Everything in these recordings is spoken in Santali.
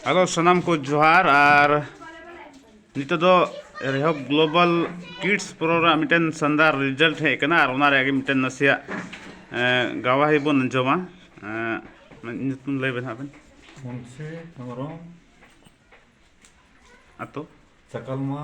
ᱦᱮᱞᱳ ᱥᱟᱱᱟᱢ ᱠᱚ ᱡᱚᱦᱟᱨ ᱟᱨ ᱱᱤᱛᱚᱜ ᱫᱚ ᱨᱮᱦᱚᱵ ᱜᱞᱳᱵᱟᱞ ᱠᱤᱰᱥ ᱯᱨᱳ ᱨᱮᱱᱟᱜ ᱢᱤᱫᱴᱮᱱ ᱥᱟᱱᱫᱟᱨ ᱨᱤᱡᱟᱞᱴ ᱦᱮᱡ ᱟᱠᱟᱱᱟ ᱟᱨ ᱚᱱᱟ ᱨᱮᱭᱟᱜ ᱜᱮ ᱢᱤᱫᱴᱮᱱ ᱱᱟᱥᱮᱭᱟᱜ ᱜᱟᱣᱟᱦᱤ ᱵᱚᱱ ᱟᱸᱡᱚᱢᱟ ᱧᱩᱛᱩᱢ ᱞᱟᱹᱭ ᱵᱮᱱ ᱦᱟᱸᱜ ᱵᱮᱱ ᱢᱩᱱᱥᱤ ᱦᱮᱢᱵᱨᱚᱢ ᱟᱛᱳ ᱪᱟᱠᱟᱞᱢᱟ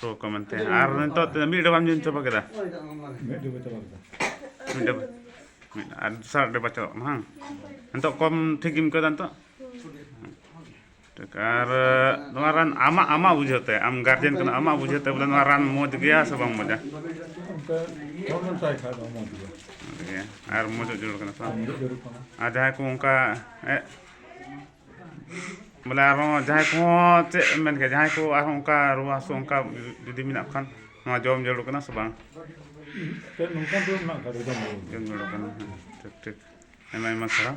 ᱛᱚ ᱠᱚ ᱢᱮᱱᱛᱮ ᱟᱨ ᱱᱤᱛᱚᱜ ᱢᱤᱫ ᱰᱟᱵᱟᱢ ᱧᱩ ᱪᱟᱵᱟ ᱠᱮᱫᱟ ᱢᱤᱫ ᱰᱟᱵᱟ ᱪᱟᱵᱟ ᱠᱮᱫᱟ ᱢᱤᱫ ᱰᱟᱵᱟ ᱢᱤᱫ ᱟᱨ ᱫᱚᱥᱟᱨ ᱰᱟᱵᱟ ᱪᱟᱵᱟᱜ ᱠᱟᱱᱟ ᱵᱟᱝ ᱱᱤᱛᱚᱜ ᱠᱚᱢ ᱴᱷᱤᱠ ᱜᱮᱢ ᱟᱹᱭᱠᱟᱹᱣᱫᱟ ᱱᱤᱛᱚᱜ ᱴᱷᱤᱠ ᱟᱨ ᱱᱚᱣᱟ ᱨᱟᱱ ᱟᱢᱟᱜ ᱟᱢᱟᱜ ᱵᱩᱡᱷᱟᱹᱣ ᱛᱮ ᱟᱢ ᱜᱟᱨᱡᱮᱱ ᱠᱟᱱᱟ ᱟᱢᱟᱜ ᱵᱩᱡᱷᱟᱹᱣ ᱛᱮ ᱵᱚᱞᱮ ᱱᱚᱣᱟ ᱨᱟᱱ ᱢᱚᱡᱽ ᱜᱮᱭᱟ ᱥᱮ ᱵᱟᱝ ᱢᱚᱡᱟ ᱟᱨ ᱢᱚᱡᱚᱜ ᱡᱟᱹᱨᱩᱲ ᱠᱟᱱᱟ ᱟᱨ ᱡᱟᱦᱟᱸᱭ ᱠᱚ ᱚᱱᱠᱟ ᱵᱚᱞᱮ ᱟᱨᱦᱚᱸ ᱡᱟᱦᱟᱸᱭ ᱠᱚᱦᱚᱸ ᱪᱮᱫ ᱮᱢ ᱢᱮᱱ ᱠᱮᱭᱟ ᱡᱟᱦᱟᱸᱭ ᱠᱚ ᱟᱨᱦᱚᱸ ᱚᱱᱠᱟ ᱨᱩᱣᱟᱹ ᱦᱟᱹᱥᱩ ᱚᱱᱠᱟ ᱡᱩᱫᱤ ᱢᱮᱱᱟᱜ ᱠᱚ ᱠᱷᱟᱱ ᱱᱚᱣᱟ ᱡᱚᱢ ᱡᱟᱹᱨᱩᱲ ᱠᱟᱱᱟ ᱥᱮ ᱵᱟᱝ ᱡᱚᱢ ᱡᱟᱹᱨᱩᱲ ᱠᱟᱱᱟ ᱦᱮᱸ ᱴᱷᱤᱠ ᱴᱷᱤᱠ ᱟᱭᱢᱟ ᱟᱭᱢᱟ ᱥᱟᱨᱦᱟᱣ